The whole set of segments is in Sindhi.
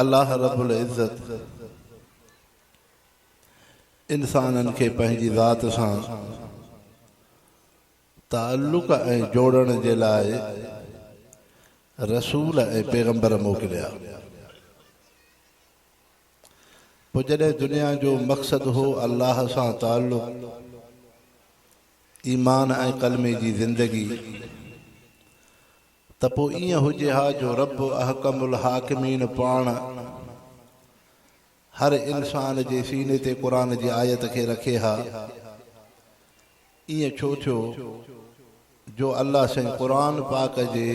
الله رب العزت انسانن کي پنهنجي ذات سان تعلق ۽ جوڙڻ جي لاء رسول ۽ پيغمبر موڪليا پوء جڏهن دنيا جو مقصد هو الله سان تعلق ايمان ۽ ڪلمي جي زندگي ته پوء ائين هجي ها جو رب احڪم الحاڪمين پاڻ هر انسان جي سيني تي قرآن جي آيت کي رکي ها. ائين ڇو ٿيو جو الله سائين قرآن پاڪ جي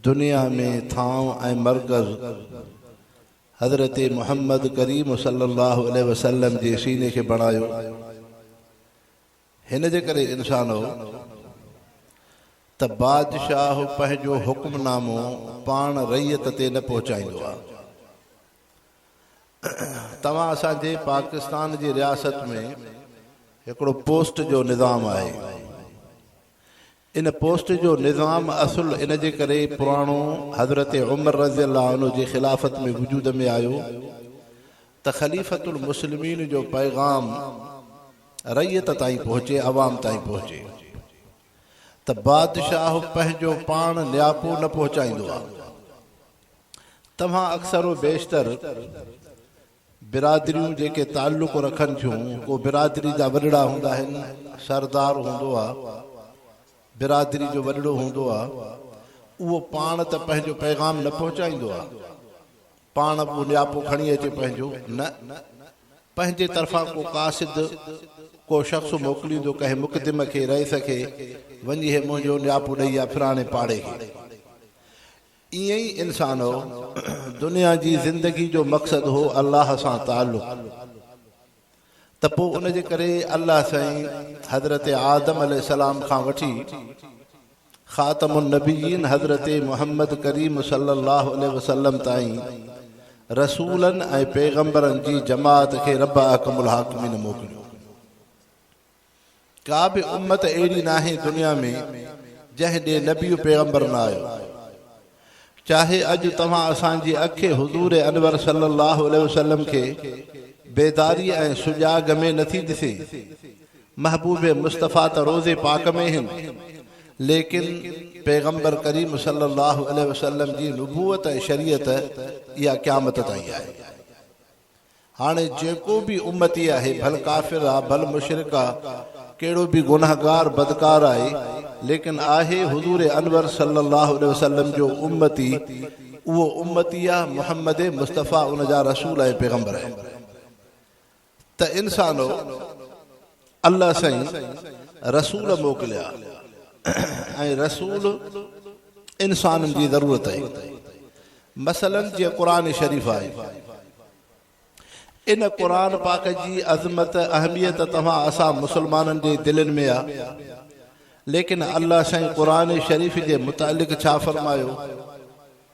دنيا ۾ ٿانو ۽ مرڪز حضرت محمد ڪريم صلي الله عليه وسلم جي سيني کي بڻايو. هن جي ڪري انسان هو ته بادشاهه پنهنجو حڪم نامو پاڻ رعيت تي نه پهچائيندو آ. توهان اسان جي پاڪستان جي رياست ۾ هڪڙو پوسٽ جو نظام آهي. ان پوسٽ جو نظام اصل ان جي ڪري پراڻو حضرت عمر رضي الله عنه جي خلافت ۾ وجود ۾ آيو ته خليفة المسلمين جو پيغام رعيت تائين پهچي، عوام تائين پهچي ته بادشاهه پنهنجو پاڻ نياپو نه پهچائيندو آ. توهان اڪثر و بيشتر. برادريون جيڪي تعلق رکن ٿيون ڪو برادري جا وڏڙا هوندا آهن سردار هوندو آ برادري جو وڏڙو هوندو آ اهو پاڻ ته پنهنجو پيغام نه پهچائيندو آ پاڻ به نياپو کڻي اچي پنهنجو نه پنهنجي طرفان ڪو قاصد ڪو شخص موڪليندو ڪنهن مقدم کي رئيس کي وڃي هي منهنجو نياپو ڏئي آ فلاڻي پاڙي کي ائين ئي انسانؤ! دنيا جي زندگي جو مقصد هو الله سان تعلق ته پوء ان جي ڪري الله سائين حضرت آدم عليه السلام کان وٺي خاتم النبيين حضرت محمد ڪريم صلي الله عليه وسلم تائين رسولن ۽ پيغمبرن جي جماعت کي رب احڪم الحاڪمين موڪليو. ڪا به امت اهڙي ناهي دنيا ۾ جنهن ڏي نبي و پيغمبر نه آيو. چاهي اڄ توهان اسان جي اکي حضور انور صلي الله عليه وسلم کي بيداريء ۽ سجاڳ ۾ نٿي ڏسي. محبوب مصطفيٰ ته روضي پاڪ ۾ هن ليڪن پيغمبر ڪريم صلي الله عليه وسلم جي نبوت ۽ شريعت اها قيامت تائين آهي. هاڻي جيڪو به امتي آهي ڀل ڪافر آ ڀل مشرڪ آ ڪهڙو به گنهگار بدڪار آهي ليڪن آهي حضور انور صلي الله عليه وسلم جو امتي اهو امتي آ محمد مصطفي ان جا رسول ۽ پيغمبر آهن ته انسانو الله سائين رسول موڪليا ۽ رسول انسانن جي ضرورت آهي مثلا جي قرآن شريف آهي ان قرآن پاڪ جي عظمت اهميت توهان اسان مسلمانن جي دلن ۾ آ ليڪن الله سائين قرآن شريف جي متعلق ڇا فرمايو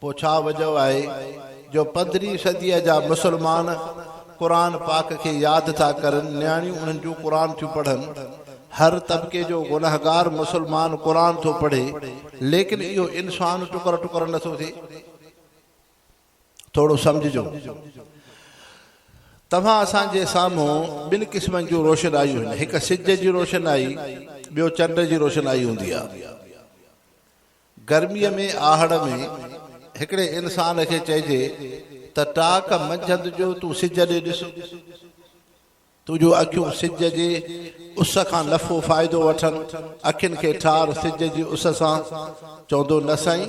پوء ڇا وجهه آهي جو پندرهين صديء جا مسلمان قرآن پاڪ کي ياد ٿا ڪرن، نياڻيون انهن جون قرآن ٿيون پڙهن. هر طبقي جو گنهگار مسلمان قرآن ٿو پڙهي، ليڪن اهو انسان ٽڪر ٽڪر نه ٿو ٿئي. ٿورو سمجهجو. توهان اسان جي سامهون ٻن قسمن جون روشنايون هن، هڪ سج جي روشنائي، ٻيو چنڊ جي روشنائي هوندي آهي. گرميء ۾ آهڙ ۾ هڪڙي انسان کي چئجي ته ٽاڪ منجهند جو تون سج ڏي ڏس، تنهنجون اکيون سج جي اس کان نفعو فائدو وٺن، اکين کي ٺار سج جي اس سان، چوندو نه سائين،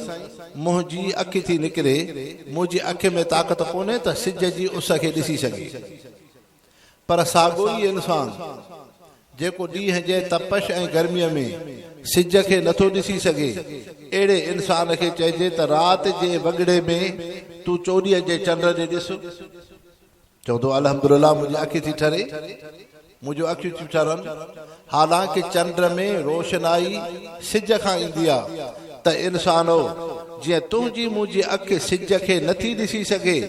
منهنجي اک ٿي نڪري، منهنجي اک ۾ طاقت ڪونهي ته سج جي اس کي ڏسي سگهي. پر ساڳو ئي انسان جيڪو ڏينهن جي تپش ۽ گرميء ۾ سج کي نٿو ڏسي سگهي، اهڙي انسان کي چئجي ته رات جي وڳڙي ۾ تون چوڏهينء جي چنڊ ڏي ڏس. چوندو الحمدلله منهنجي اک ٿي ٺري، منهنجون اکيون ٿيون ٺرن، حالانڪ چنڊ ۾ روشنائي سج کان ايندي آ ته انسانو جيئن تنهنجي منهنجي اک سج کي نه ٿي ڏسي سگهي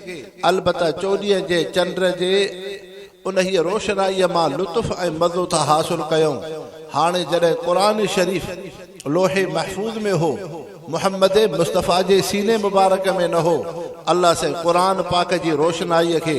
البته چوڏهين جي چنڊ جي انهيء روشنائيء مان لطف ۽ مزو ٿا حاصل ڪيون هاڻي جڏهن قرآن شريف لوح محفوظ ۾ هو محمد مصطفيٰ جي سيني مبارڪ ۾ نه هو الله سائين قرآن پاڪ جي روشنائيء کي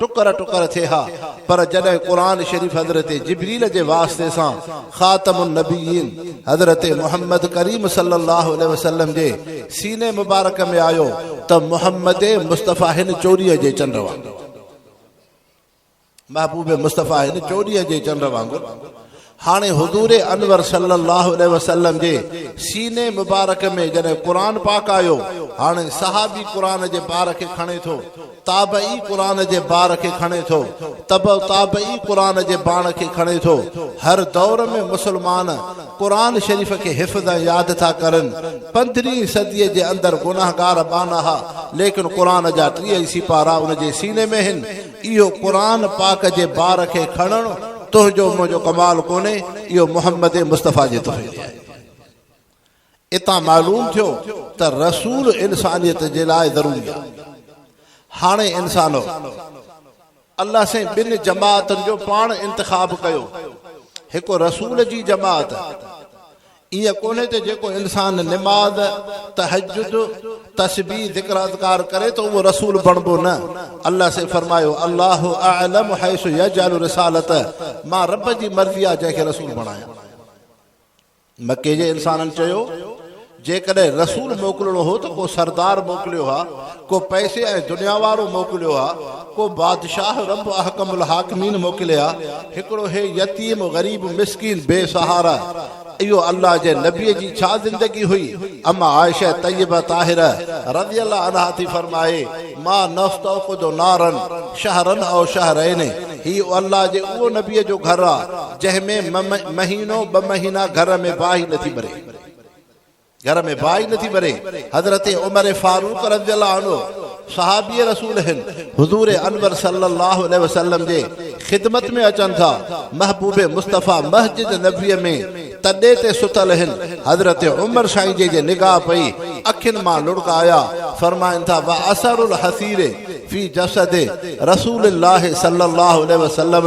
ٽڪر ٽڪر ٿئي ها پر جڏهن قرآن شريف حضرت جبريل جي واسطي سان خاتم النبيين حضرت محمد ڪريم صلي الله عليه وسلم جي سيني مبارڪ ۾ آيو ته محمد مصطفيٰ هن چوڏهين جي چنڊ وانگر محبوب مصطفيٰ هن چوڏهين جي چنڊ وانگر هاڻي حضور انور صلي الله عليه وسلم جي سيني مبارڪ ۾ جڏهن قرآن پاڪ آيو، هاڻي صحابي قرآن جي بار کي کڻي ٿو، تابعي قرآن جي بار کي کڻي ٿو، تبع تابعي قرآن جي باڻ کي کڻي ٿو، هر دور ۾ مسلمان قرآن شريف کي حفظ ۽ ياد ٿا ڪرن، پندرهين صديء جي اندر گناهگار ٻانها ليڪن قرآن جا ٽيهه ئي سيپارا ان جي سيني ۾ هن، اهو قرآن پاڪ جي بار کي کڻڻ تنهنجو منهنجو ڪمال ڪونهي اهو محمد مصطفيٰ جي توفيق آهي. اتان معلوم ٿيو ته رسول انسانيت جي لاء ضروري آهي. هاڻي انسانو! الله سائين ٻن جماعتن جو پاڻ انتخاب ڪيو. هڪ رسول جي جماعت. ائين ڪونهي ته جيڪو انسان نماز، تهجد، تسبيح، ذڪراذڪار ڪري ٿو اهو رسول بڻبو نه. الله سين فرمايو، الله اعلم حيث يجعل رسالته، مان رب جي مرضي آهي جنهن کي رسول بڻايان. مڪي جي انسانن چيو، جيڪڏهن رسول موڪلڻو هو ته ڪو سردار موڪليو ها، ڪو پئسي ۽ دنيا وارو موڪليو ها، ڪو بادشاهه رب احڪم الحاڪمين موڪلي ها، هڪڙو هي يتيم غريب مسڪين بي سهارا اهو الله جي نبي جي ڇا زندگي هئي اما عائشه طيبه طاهره رضي الله عنها ٿي فرمائي ما نستوقد نارا شهرا او شهرين هي الله جي اهو نبي جو گهر آ جنهن ۾ مهينو ٻه مهينا گهر ۾ باهه ئي نٿي ٻري. گهر ۾ باهه ئي نه ٿي ٻري. حضرت عمر فاروق رضي الله عنه صحابي رسول هن، حضور انور صلي الله عليه وسلم جي خدمت ۾ اچن ٿا، محبوب مصطفيٰ مسجد نبويء ۾ تڏي تي ستل هن، حضرت عمر سائين جي جي نگاهه پئي اکين مان لڙڪا آيا، فرمائن ٿا، واثر الحصير في جسد رسول الله صلي الله عليه وسلم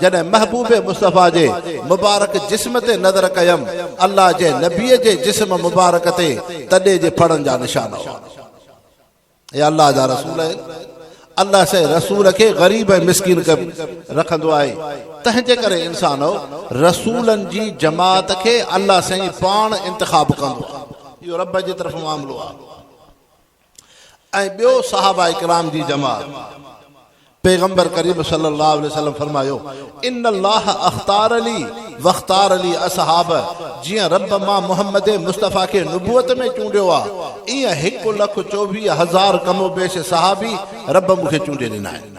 جڏهن محبوب مصطفيٰ جي مبارڪ جسم تي نظر ڪيم، الله جي نبيء جي جسم مبارڪ تي تڏي جي ڦڙن جا نشان هئا. اي الله جا رسول! الله سائين رسول کي غريب ۽ مسڪين رکندو آهي، تنهن جي ڪري انسانؤ! رسولن جي جماعت کي الله سائين پاڻ انتخاب ڪندو آهي. اهو رب جي طرفان معاملو آهي. ۽ ٻيو صحابه ڪرام جي جماعت، پيغمبر ڪريم صلّي اللّٰه عليه وسلّم فرمايو، ان اللّٰه اختار لي واختار لي اصحابه، جيئن ربّ مان محمّد مصطفٰي کي نبوت ۾ چونڊيو آ، ايئن هڪ لک چوويهه هزار ڪم و بيش صحابي ربّ مون کي چونڊي ڏنا آهن.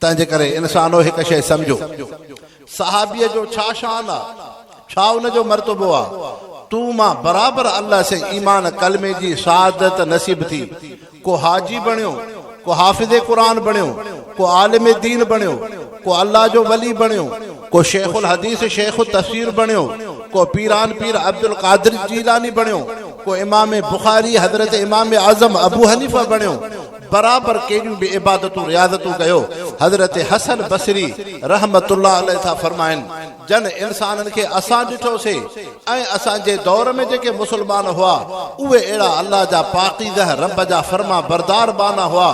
تنهنجي ڪري ان سان انوهي هڪ شيء سمجهو، صحابيء جو ڇا شان آ، ڇا ان جو مرتبو آ، تون مان برابر الله سين ايمان ڪلمي جي شهادت نصيب ٿي، ڪو حاجي بڻيو، ڪو حافظ قرآن بڻيو، ڪو عالم دين بڻيو، ڪو الله جو ولي بڻيو، ڪو شيخ الحديث شيخ التفسير بڻيو، ڪو پيران پير عبدالقادر جيلاني بڻيو، ڪو امام بخاري حضرت امام اعظم ابوحنيفه بڻيو، برابر ڪيڏيون به عبادتون رياضتون ڪيو حضرت حسن بصري رحمة الله عليه ٿا فرمائن جن انسانن کي اسان ڏٺو سي ۽ اسان جي دور ۾ جيڪي مسلمان هئا اهي اهڙا الله جا پاڪيزه رب جا فرمان بردار ٻانها هئا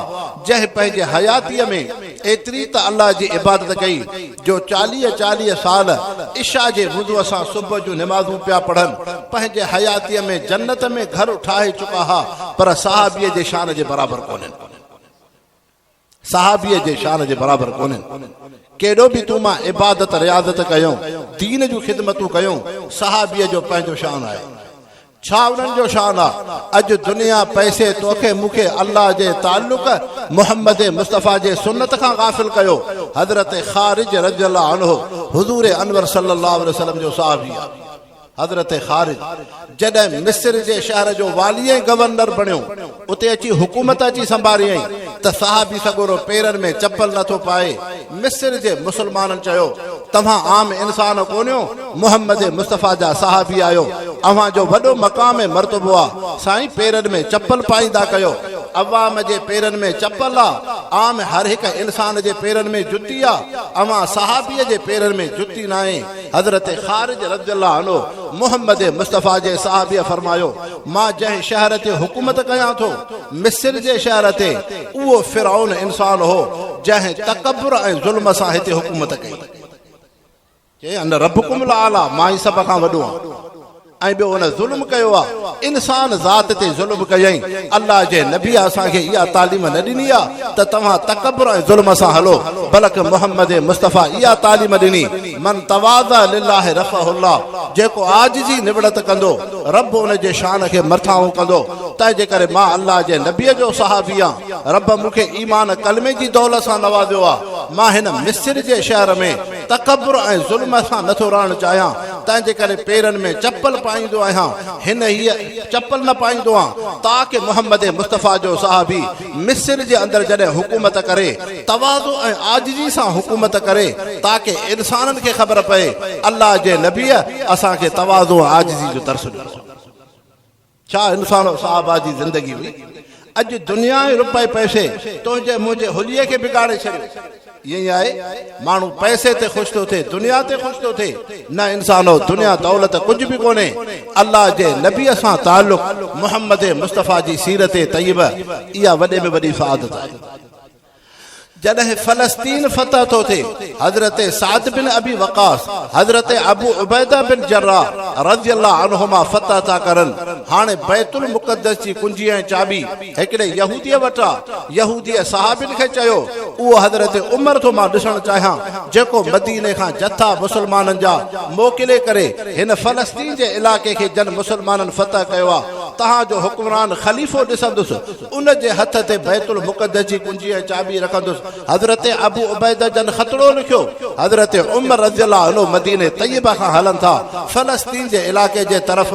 جنهن پنهنجي حياتيء ۾ ايتري ته الله جي عبادت ڪئي جو چاليهه چاليهه سال عشاء جي وضوء سان صبح جون نمازون پيا پڙهن، پنهنجي حياتيء ۾ جنت ۾ گهر ٺاهي چڪا ها، پر صحابيء جي شان جي برابر ڪونهن. صحابيء جي شان جي برابر ڪونهن. ڪيڏو به تون مان عبادت رياضت ڪيون، دين جون خدمتون ڪيون، صحابيء جو پنهنجو شان آهي. ڇا انهن جو شان آ؟ اڄ دنيا پئسي توکي مون کي الله جي تعلق محمد مصطفي جي سنت کان غافل ڪيو حضرت خارج رضي الله عنه حضور انور صلي الله عليه وسلم جو صحابي آ حضرت خارج جڏهن مصر جي شهر جو والي ۽ گورنر بڻيو اتي اچي حڪومت اچي سنڀاريائين ته صحابي سڳورو پيرن ۾ چپل نه ٿو پائي. مصر جي مسلمانن چيو، توهان عام انسان ڪونهيو، محمد مصطفيٰ جا صحابي آهيو، اوهان جو وڏو مقام ۽ مرتبو آ، سائين پيرن ۾ چپل پائيندا ڪيو. عوام جي پيرن ۾ چپل آ، عام هر هڪ انسان جي پيرن ۾ جتي آ، اوهان صحابي جي پيرن ۾ جتي ناهي. حضرت خارج رضي الله عنه محمد مصطفيٰ جي صحابي فرمايو. مان جنهن شهر تي حڪومت ڪيان ٿو، مصر جي شهر تي، اهو فرعون انسان هو، جنهن تڪبر ۽ ظلم سان هتي حڪومت ڪئي. چيائين، انا ربڪم الاعليٰ، مان ئي سڀ کان وڏو آهيان. ۽ ٻيو ان ظلم ڪيو آهي، انسان ذات تي ظلم ڪيائين. الله جي نبيء اسان کي اها تعليم نه ڏني آهي ته توهان تڪبر ۽ ظلم سان هلو، بلڪ محمد مصطفيٰ اها تعليم ڏني، من تواضع لله رفعه الله، جيڪو عاجزي نوڙت ڪندو، رب ان جي شان کي مرٿاهون ڪندو، تنهنجي ڪري مان الله جي نبيء جو صحابي آهن، رب مون کي ايمان ۽ ڪلمي جي دولت سان نوازيو آهي، مان هن مصر جي شهر ۾ تڪبر ۽ ظلم سان نٿو رهڻ چاهيان، تنهنجي ڪري پيرن ۾ چپل پائيندو آهيان، هن هئي چپل نه پائيندو آهيان، تاڪ محمد مصطفيٰ جو صحابي، مصر جي اندر جڏهن حڪومت ڪري، تواضع ۽ عاجزي سان حڪومت ڪري، تاڪه انسانن کي خبر پئي، الله جي نبيء اسان کي تواضع ۽ عاجزي جو درس ڏنو آهي. ڇا انسان و صحابه جي زندگي هئي؟ اڄ دنيا ۽ روپئي پئسي تنهنجي منهنجي حليي کي بگاڙي ڇڏيو. ائين آهي ماڻهو پئسي تي خوش ٿو ٿئي دنيا تي خوش ٿو ٿئي نه انسانو دنيا دولت ڪجهه به ڪونهي الله جي نبي سان تعلق محمد مصطفي جي سيرت طيبه اها وڏي ۾ وڏي سعادت آهي جڏهن فلسطين فتح ٿو ٿئي حضرت سعد بن ابي وقاص حضرت ابو عبيده بن جراح رضي الله عنهما فتح ٿا ڪرن هاڻي بيت المقدس جي ڪنجي ۽ چاٻي هڪڙي يهوديء وٽ آ، يهوديء صحابين کي چيو، اهو حضرت عمر ٿو مان ڏسڻ چاهيان، جيڪو مديني کان جٿا مسلمانن جا موڪلي ڪري هن فلسطين جي علائقي کي جن مسلمانن فتح ڪيو آ، تهان جو حڪمران خليفو ڏسندس، ان جي هٿ تي بيت المقدس جي ڪنجي ۽ چاٻي رکندس. حضرت ابو عبيده جن خطڙو لکيو، حضرت عمر رضي الله عنه مديني طيبه کان هلن ٿا، فلسطين جي علائقي جي طرف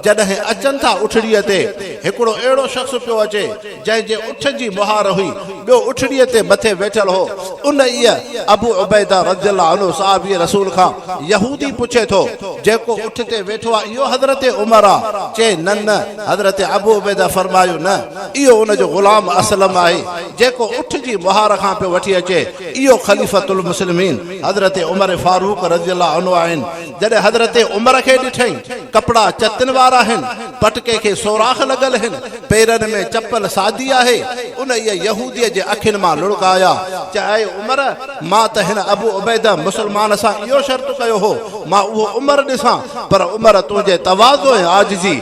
جڏهن اچن ٿا اٺڙيء تي، هڪڙو اهڙو شخص پيو اچي، جنهن جي اٺ جي مهار هئي، ٻيو اٺڙيء تي مٿي ويٺل هو. انهيء، ابو عبيده رضي الله عنه، صحابي رسول کان، يهودي پڇي ٿو، جيڪو اٺ تي ويٺو آهي، اهو حضرت عمر آهي؟ چي، نه نه! حضرت ابو عبيده فرمايو، نه، اهو ان جو غلام اسلم آهي، جيڪو اٺ جي مهار کان پيو وٺي اچي، اهو خليفة المسلمين حضرت عمر فاروق رضي الله عنه آهن. جڏهن حضرت عمر کي ڏٺئي، ڪپڙا چتن وارا آهن. پٽڪي کي سوراخ لڳل هن، پيرن ۾ چپل سادي آهي. انهيء يهوديء جي اکين مان لڙڪ آيا. چيائين، اي عمر! مان ته هن ابو عبيده مسلمان سان اهو شرط ڪيو هو، مان اهو عمر ڏسان، پر عمر تنهنجي تواضع ۽ عاجزي،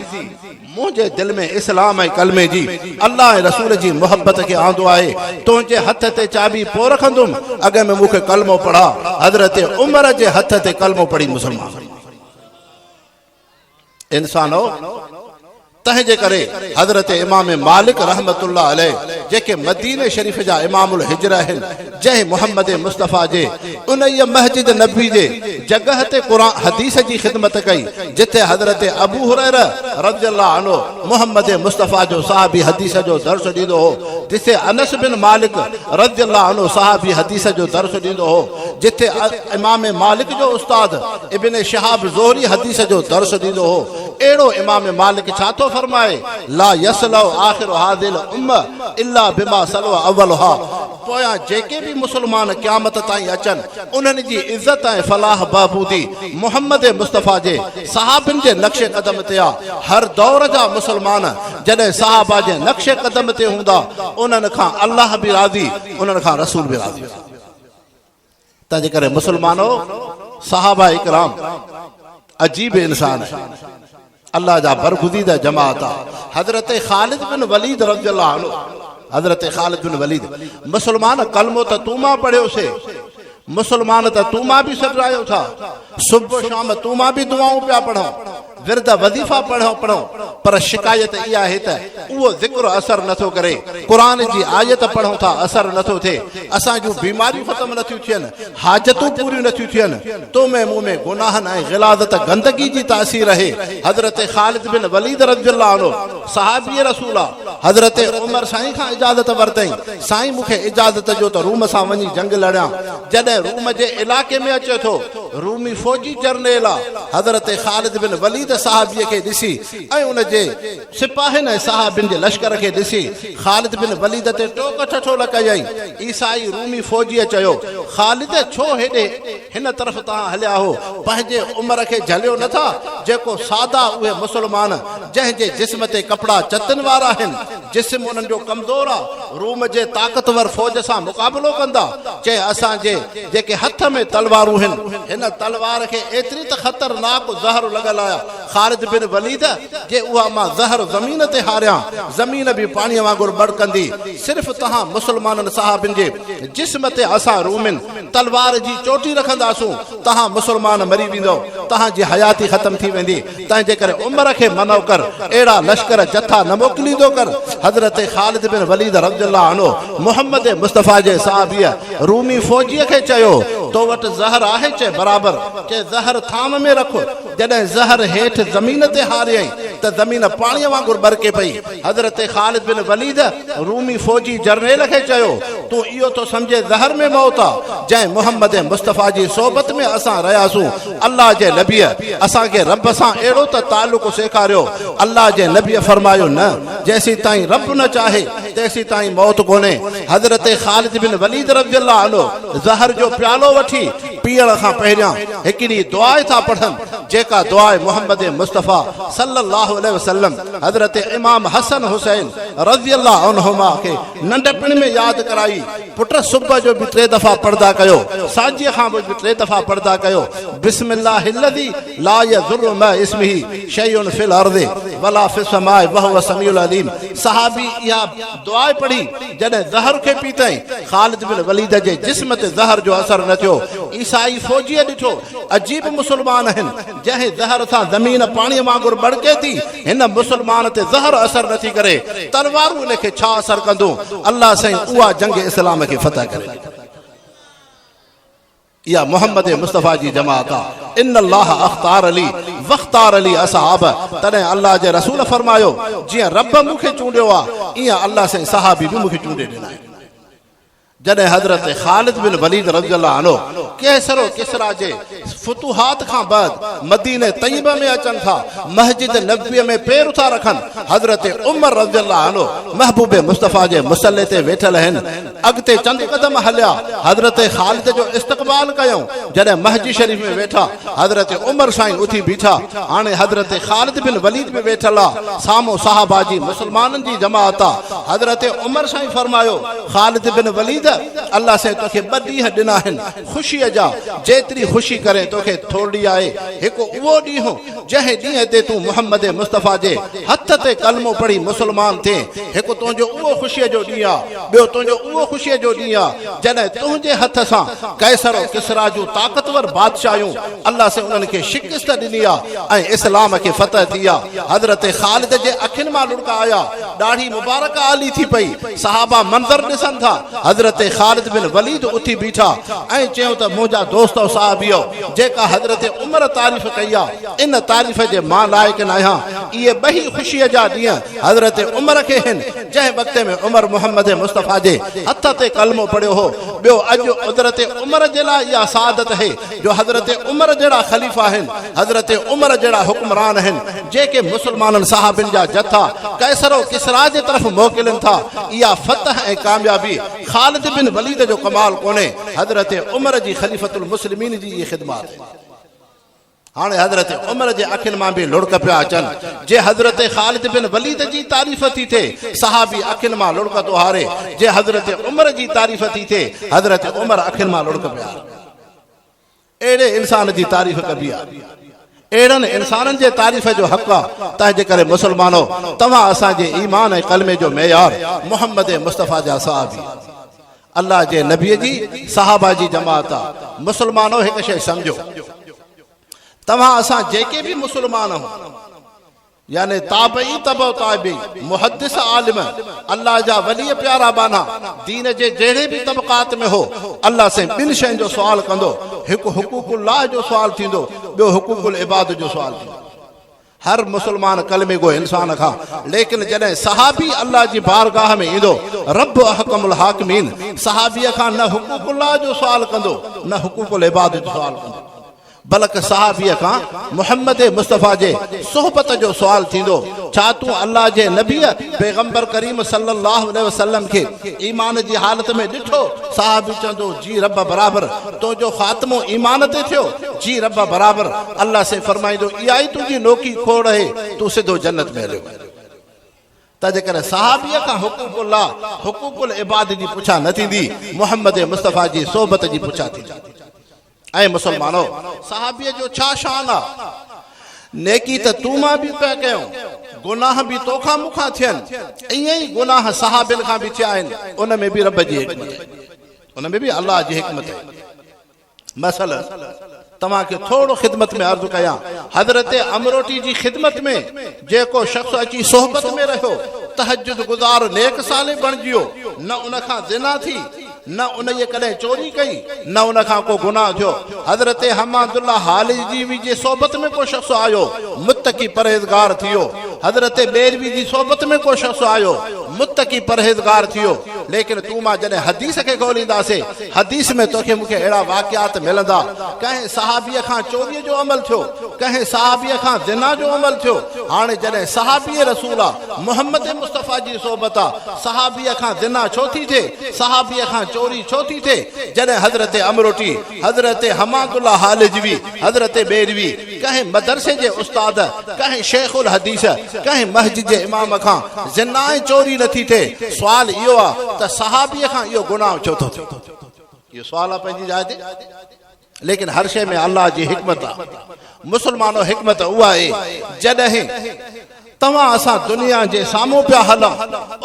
منهنجي دل ۾ اسلام ۽ ڪلمي جي، الله ۽ رسول جي محبت کي آندو آهي، تنهنجي هٿ تي چاٻي پوء رکندم، اڳ ۾ مون کي ڪلمو پڙهاء. حضرت عمر جي هٿ تي ڪلمو پڙهي مسلمان. انسانؤ! تنهنجي ڪري حضرت امام مالڪ رحمة الله عليه جيڪي مديني شريف جا امام الهجره آهن، جنهن محمد مصطفيٰ جي انهيء مسجد نبوي جي جڳهه تي قرآن حديث جي خدمت ڪئي، جتي حضرت ابو هريره رضي الله عنه محمد مصطفيٰ جو صحابي حديث جو درس ڏيندو هو، جتي انس بن مالڪ رضي الله عنه صحابي حديث جو درس ڏيندو هو. جتي امام مالڪ جو استاد ابن شهاب زهري حديث جو درس ڏيندو هو اهڙو امام مالڪ ڇا ٿو فرمائي لا يصلع آخر هذه الامه الا بما صلع اولها پويان جيڪي به مسلمان قيامت تائين اچن انهن جي عزت ۽ فلاح بهبودي محمد مصطفيٰ جي صحابين جي نقش قدم تي آ هر دور جا مسلمان جڏهن صحابه جي نقش قدم تي هوندا انهن کان الله به راضي انهن کان رسول به راضي تنهنجي ڪري مسلمانو صحابه اڪرام عجيب انسان آهن الله جا برگزيده جماعت آ حضرت خالد بن وليد رضي الله عنه حضرت خالد بن وليد مسلمان کلمو ته تون مان پڙهيو سي مسلمان ته تون مان به سڏرايو ٿا صبح شام تون مان به دعائون پيا پڙهون ورد وظيفا پڙهو پڙهو پر شڪايت اها آهي ته اهو ذڪر اثر نه ٿو ڪري قرآن جي آيت پڙهون ٿا اثر نه ٿو ٿئي اسان جون بيماريون ختم نه ٿيون ٿين حاجتون پوريون نه ٿيون ٿين تو ۾ مون ۾ گناهن ۽ غلاظت گندگي جي تاثير اهي حضرت خالد بن وليد رضي الله عنه صحابي رسول آ حضرت عمر سائين کان اجازت ورتئين سائين مون کي اجازت ڏيو ته روم سان وڃي جنگ لڙيان جڏهن روم جي علائقي ۾ اچي ٿو رومي فوجي جرنيل حضرت خالد بن وليد صحابيء کي ڏسي ۽ ان جي سپاهين ۽ صحابين جي لشڪر کي ڏسي خالد بن وليد تي ٽوڪ ٺٺولا ڪيائين. عيسائي رومي فوجيء چيو، خالد! ڇو هيڏي هن طرف تان هليا هو؟ پنهنجي عمر کي جهليو نه ٿا، جيڪو سادا اهي مسلمان جنهن جي جسم تي ڪپڙا چتن وارا آهن، جسم انهن جو ڪمزور آ، روم جي طاقتور فوج سان مقابلو ڪندا، چيائين اسان جي جيڪي هٿ ۾ تلوارون هن، هن تلوار کي ايتري ته خطرناڪ زهر لڳل آهي، خالد بن وليد جي اها مان زهر زمين تي هاريان، زمين به پاڻيء وانگر ٻڙڪندي، صرف توهان مسلمانن صحابين جي جسم تي اسان رومين تلوار جي چوٽي رکنداسون، توهان مسلمان مري ويندؤ، توهان جي حياتي ختم ٿي ويندي. تنهنجي ڪري عمر کي منع ڪر، اهڙا لشڪر، جٿا، نه موڪليندو ڪر. حضرت خالد بن وليد رضي الله عنه محمد مصطفيٰ جي صحابيء رومي فوجيء کي چيو، تو وٽ زهر آهي؟ چي، برابر. چي، زهر ٿانء ۾ رک. جڏهن زهر هيٺ زمين تي هاريائين ته زمين پاڻيء وانگر ٻرڪي پئي. حضرت خالد بن وليد رومي فوجي جرنيل کي چيو، تون اهو ٿو سمجهين زهر ۾ موت آ، جنهن محمد مصطفيٰ جي صحبت ۾ اسان رهياسون، الله جي نبيء اسان کي رب سان اهڙو ته تعلق سيکاريو، الله جي نبيء فرمايو، نه، جيسيتائين رب نه چاهي، تيسيتائين موت ڪونهي، حضرت خالد بن وليد رضي الله عنه زهر جو پيالو وٺي پيئڻ کان پهريان هڪڙي دعا ٿا پڙهن، جيڪا دعا محمد مصطفيٰ صلّي اللّٰه عليه وسلّم. حضرت امام حسن حسين رضي الله عنهما کي ننڍپڻ ۾ ياد ڪرائي، پٽ صبح جو به ٽي دفعا پڙدا ڪيو، سانجهيء کان پوء به ٽي دفعا پڙدا ڪيو، بسم الله الذي لا يضر مع اسمه شيء في الارض ولا في السماء وهو السميع العليم صحابي اها دعا پڙهي جڏهن زهر کي پيتائين، خالد بن وليد جي جسم تي زهر جو اثر نه ٿيو، عيسائي فوجيء ڏٺو، عجيب مسلمان آهن. جنهن زهر سان زمين پاڻيء وانگر ٻڙڪي ٿي، هن مسلمان تي زهر اثر نٿي ڪري، تلوارون ان کي ڇا اثر ڪندون؟ الله سائين اها جنگ اسلام کي فتح ڪري ڏي. اها محمد مصطفيٰ جي جماعت آ. ان الله اختار لي واختار لي اصحابه تڏهن الله جي رسول فرمايو، جيئن رب مون کي چونڊيو آ، ايئن الله سائين صحابي به مون کي چونڊي ڏنا آهن. جڏهن حضرت خالد بن وليد رضي الله عنه قيصر و ڪسريٰ جي فتوحات کان بعد مدينه طيبه ۾ اچن ٿا، مسجد نبويء ۾ پير ٿا رکن، حضرت عمر رضي الله عنه محبوب مصطفيٰ جي مصلي تي ويٺل آهن، اڳتي چند قدم هليا، حضرت خالد جو استقبال ڪيائون، جڏهن محجي شريف ۾ ويٺا، حضرت عمر سائين اٿي بيٺا، هاڻي حضرت خالد بن وليد به ويٺل آ، سامهون صحابه جي مسلمانن جي جماعت آ، حضرت عمر سائين فرمايو. خالد بن وليد! الله سائين توکي ٻه ڏينهن ڏنا آهن خوشيء جا، جيتري خوشي ڪرين توکي ٿورڙي آهي. هڪ اهو ڏينهن، جنهن ڏينهن تي تون محمد مصطفيٰ جي هٿ تي ڪلمو پڙهي مسلمان ٿئين. هڪ تنهنجو اهو خوشيء جو ڏينهن آ. ٻيو تنهنجو اهو خوشيء جو ڏينهن آ، جڏهن تنهنجي هٿ سان قيصر و ڪسريٰ جون طاقتور بادشاهيون، الله سائين انهن کي شڪست ڏني آ ۽ اسلام کي فتح ٿي آ. حضرت خالد جي اکين مان لڙڪا آيا. ڏاڙهي مبارڪه آلي ٿي پئي، صحابه منظر ڏسن ٿا، حضرت خالد بن وليد اٿي بيٺا ۽ چيو ته منهنجا دوستؤ صحابيؤ! جيڪا حضرت عمر تعريف ڪئي آ، ان تعريف جي مان لائق ناهيان، اهي ٻئي خوشيء جا ڏينهن حضرت عمر کي هن، جنهن وقت ۾ عمر محمد مصطفيٰ جي هٿ تي ڪلمو پڙهيو هو، ٻيو اڄ حضرت عمر جي لاء اها سعادت هي جو حضرت عمر جهڙا خليفا هن، حضرت عمر جهڙا حڪمران هن، جيڪي مسلمانن صحابين جا جٿا قيصر و ڪسريٰ جي طرف موڪلين ٿا، اها فتح ۽ ڪاميابي خالد بن وليد جو ڪمال ڪونهي، حضرت عمر جي خليفة المسلمين جي اهي خدمات آهن. هاڻي حضرت عمر جي اکين مان به لڙڪ پيا اچن. جي حضرت خالد بن وليد جي تعريف ٿي ٿئي، صحابي اکين مان لڙڪ ٿو هاري، جي حضرت عمر جي تعريف ٿي ٿئي، حضرت عمر اکين مان لڙڪ پيا هارن. اهڙي انسان جي تعريف ڪبي آهي. اهڙن انسانن جي تعريف جو حق آ. تنهنجي ڪري مسلمانو! توهان اسان جي ايمان ۽ ڪلمي جو معيار محمد مصطفيٰ جا صحابي، الله جي نبي جي صحابه جي جماعت آ. مسلمانو! هڪ شيء سمجهو. توهان اسان جيڪي به مسلمان آهون. يعني تابعي تبع تابعي، محدث عالم، الله جا ولي پيارا ٻانها، دين جي جهڙي به طبقات ۾ هو، الله سائين ٻن شين جو سوال ڪندو، هڪ حقوق الله جو سوال ٿيندو، ٻيو حقوق العباد جو سوال ٿيندو. هر مسلمان ڪلمي گو انسان کان ليڪن جڏهن صحابي الله جي بارگاهه ۾ ايندو، رب احڪم الحاڪمين، صحابي کان نه حقوق الله جو سوال ڪندو، نه حقوق العباد جو سوال ڪندو. بلڪ صحابيء کان محمد مصطفيٰ جي صحبت جو سوال ٿيندو، ڇا تون الله جي نبيء پيغمبر ڪريم صلّي اللّٰه عليه وسلّم کي ايمان جي حالت ۾ ڏٺو؟ صحابي چوندو، جي ربّ برابر، تنهنجو خاتمو ايمان تي ٿيو؟ جي ربّ برابر، الله سائين فرمائيندو، اها ئي تنهنجي نوڪي کوڙ اهي، تون سڌو جنّت ۾ هليو وڃ. تنهنڪري صحابيء کان حقوق الله، حقوق العباد جي پڇا نه ٿيندي، محمد مصطفيٰ جي صحبت جي پڇا ٿيندي. اي مسلمانؤ! صحابيء جو ڇا شان آ؟ نيڪي ته تون مان به پيا ڪيون، گناهه به تو کان مون کان ٿين، ائين ئي گناهه صحابين کان به ٿيا آهن، ان ۾ به رب جي حڪمت آهي. ان ۾ به الله جي حڪمت آهي. مثلاً توهان کي ٿورڙو خدمت ۾ عرض ڪيان، حضرت امروٽي جي خدمت ۾ جيڪو شخص اچي صحبت ۾ رهيو، تهجد گذار نيڪ صالح بڻجيو، نه ان کان زنا ٿي، نه انهيء ڪڏهن چوري ڪئي، نه ان کان ڪو گناهه ٿيو. حضرت حماد الله هاليجوي جي صحبت ۾ ڪو شخص آيو، متقي پرهيزگار ٿي ويو. حضرت بيروي جي صحبت ۾ ڪو شخص آيو، متقي پرهيزگار ٿي ويو. ليڪن تون مان جڏهن حديث کي ڳولينداسين، حديث ۾ توکي مون کي اهڙا واقعات ملندا. ڪنهن صحابيء کان چوريء جو عمل ٿيو، ڪنهن صحابيء کان زنا جو عمل ٿيو. هاڻي جڏهن صحابي رسول آ، محمد مصطفيٰ جي صحبت آ، صحابيء کان زنا ڇو ٿي ٿئي؟ صحابيء کان چوري ڇو ٿي ٿئي؟ جڏهن حضرت امروٽي، حضرت حماد الله هالجوي، حضرت بيروي، ڪنهن مدرسي جي استاد، ڪنهن شيخ الحديث، ڪنهن مسجد جي امام کان زنا ۽ چوري نه ٿي ٿئي، سوال اهو آ ته صحابيء کان اهو گناهه ڇو ٿو ٿئي؟ اهو سوال آ پنهنجي جاء تي. ليڪن هر شيء ۾ الله جي حڪمت آ. مسلمانو حڪمت اها اهي جڏهن توهان اسان دنيا جي سامهون پيا هلون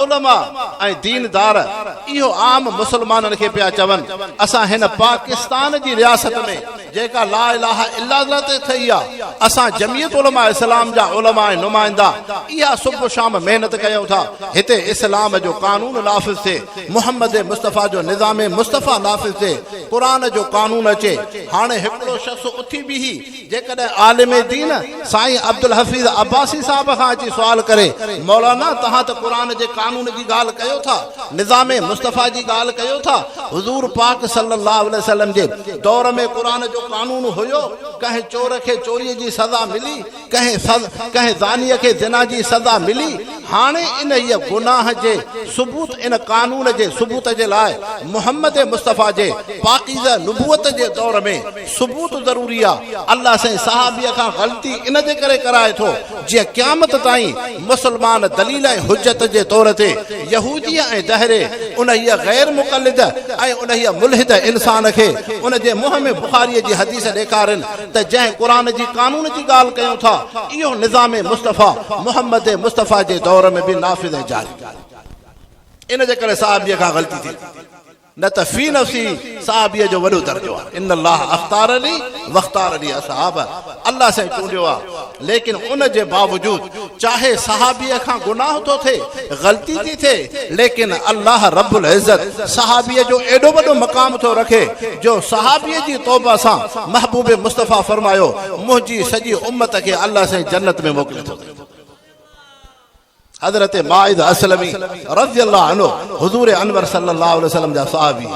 علماء ۽ دين دار اهو عام مسلمانن کي پيا چون اسان هن پاڪستان جي رياست ۾ جيڪا لا اله الا الله تي ٿئي آ اسان جميعت علماء اسلام جا علماء ۽ نمائندا اها صبح شام محنت ڪيون ٿا هتي اسلام جو قانون نافذ ٿئي محمد مصطفيٰ جو نظام مصطفيٰ نافذ ٿئي قرآن جو قانون اچي. هاڻي هڪڙو شخص اٿي بيهي جيڪڏهن عالم دين سائين عبدالحفيظ عباسي صاحب کان اچي سوال ڪري مولانا توهان ته قرآن جي قانون جي ڳالهه ڪيو ٿا، نظام مصطفيٰ جي ڳالهه ڪيو ٿا، حضور پاڪ صلّي اللّٰه عليه وسلّم جي دور ۾ قرآن جو قانون هيو، ڪنهن چور کي چوريء جي سزا ملي، ڪنهن سز ڪنهن زانيء کي زنا جي سزا ملي، هاڻي انهيء گناهه جي ثبوت ان قانون جي ثبوت جي لاء محمد مصطفيٰ جي پاڪيزه نبوت جي دور ۾ ثبوت ضروري آ، الله سائين صحابيء کان غلطي ان جي ڪري ڪرائي ٿو جيئن قيامت تائين مسلمان دليل ۽ حجت جي طور تي يهوديء ۽ دهري انهيء غير مقلد ۽ انهيء ملحد انسان کي ان جي منهن ۾ بخاريء جي حديث ڏيکارين ته جنهن قرآن جي قانون جي ڳالهه ڪيون ٿا، اهو نظام مصطفيٰ، محمد مصطفيٰ، جي دور ۾ به نافذ ۽ جاري هو. ان جي ڪري صحابيء کان غلطي ٿي هوندي، نه ته في نفسه صحابيء جو وڏو درجو آهي. ان الله اختارني واختار لي اصحابه، الله سائين چونڊيو آهي ليڪن ان جي باوجود چاهي صحابيء کان گناهه ٿو ٿئي، غلطي ٿي ٿئي، ليڪن الله رب العزت صحابيء جو ايڏو وڏو مقام ٿو رکي جو صحابيء جي توبه سان محبوب مصطفيٰ فرمايو، منهنجي سڄي امت کي الله سائين جنت ۾ موڪلي ٿو ڏي. حضرت ماعز اسلمي رضي الله عنه حضور انور صلي الله عليه وسلم جا صحابي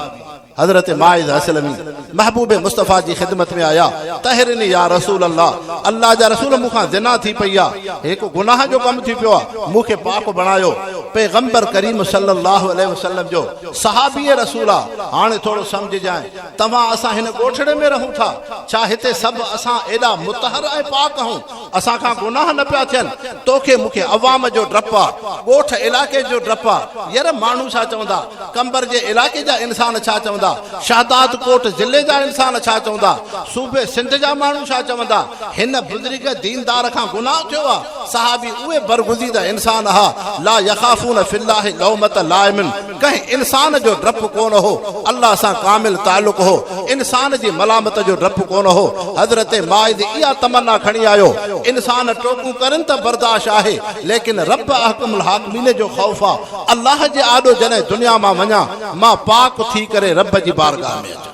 حضرت ماعز اسلمي محبوب مصطفيٰ جي خدمت ۾ آيا تهرني يا رسول الله الله جا رسول مون کان زنا ٿي پئي آ هڪ گناهه جو ڪم ٿي پيو آ مون کي پاڪ بڻايو پيغمبر ڪريم صلي الله عليه وسلم جو صحابي رسول آ هاڻي ٿورو سمجهجانء توهان اسان هن ڳوٺڙي ۾ رهون ٿا ڇا هتي سڀ اسان ايڏا مطهر ۽ پاڪ آهون اسان کان گناهه نه پيا ٿين، توکي مون کي عوام جو ڊپ آ، ڳوٺ علائقي جو ڊپ آ، ير ماڻهو ڇا چوندا، قمبر جي علائقي جا انسان ڇا چوندا، شهداد ڪوٽ ضلعي جا انسان ڇا چوندا، صوبي سنڌ جا ماڻهو ڇا چوندا، هن بزرگ ديندار کان گناهه ٿيو آ، صحابي اهي برگزيده انسان ها، لا يخافون في الله لومة لائم. ڪنهن انسان جو ڊپ ڪونه هو، الله سان ڪامل تعلق هو، انسان جي ملامت جو ڊپ ڪونه هو، حضرت ماعز اها تمنا کڻي آيو، انسان ٽوڪون ڪرن ته برداشت آهي، ليڪن رب احڪم الحاڪمين جو خوف آ، الله جي آڏو جڏهن دنيا مان وڃان، مان پاڪ ٿي ڪري رب جي بارگاهه ۾ اچان.